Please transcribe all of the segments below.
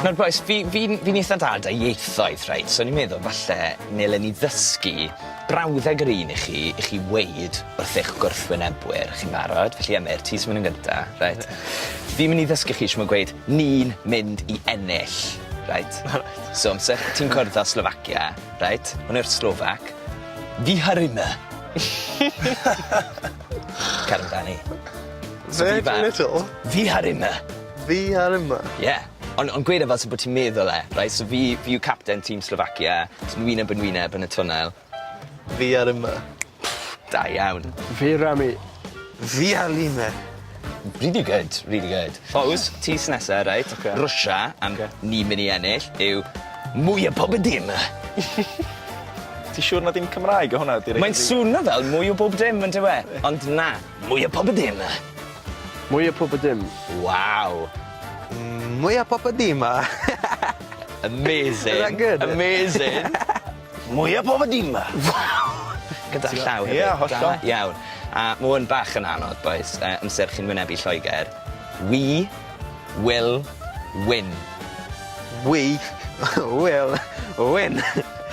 Nawr bois fi fi'n fi'n itha da 'da ieithoedd reit so o'n i'n meddwl falle nele ni ddysgu brawddeg yr un i chi i chi weud wrth eich gwrthwynebwyr chi'n barod? Felly Emyr ti sy myn' yn gynta reit? Fi myn' i ddysgu chi shwd gweud ni'n mynd i ennill reit? Reit. So amser ti'n cwrdd â Slofacia reit? Hwn yw'r Slofac. Vyharime. Cer amdani. Virgin Little? Fi ar unna. Fi ar unna? Ie. Ond ond gweud e fel sy bo' ti'n meddwl e. Reit so fi fi yw capten tîm Slovakia. Jyst wyneb yn wyneb yn y twnnel. Fi ar unna. Da iawn. Fi Rami. Fi ar line. Really good, really good. Fows, tis nesa, reit. Oce. Rwsia, a m- ni'n myn' i ennill, yw mwy o pob dim. Ti siŵr na dim Cymraeg o hwnna direct? Mae'n swno fel mwy o bob dim yndyw e? Ond na, mwy o pob y dim. Mwy o pob y dim. Waw. Mwy o pob y dim. Amazing. Is that good? Amazing. Mwya pob dim 'ma. Waw! Gyda llaw hefyd. Ie hollol. Da iawn. A ma' 'wn bach yn anodd bois yy amser chi'n wynebu Lloeger. We will win. We will win.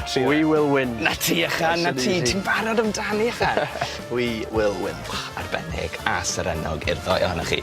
Trio. We will win. 'Na ti ychan 'na ti ti'n barod amdani ychan. We will win. Arbennig a serennog i'r ddou ohonoch chi.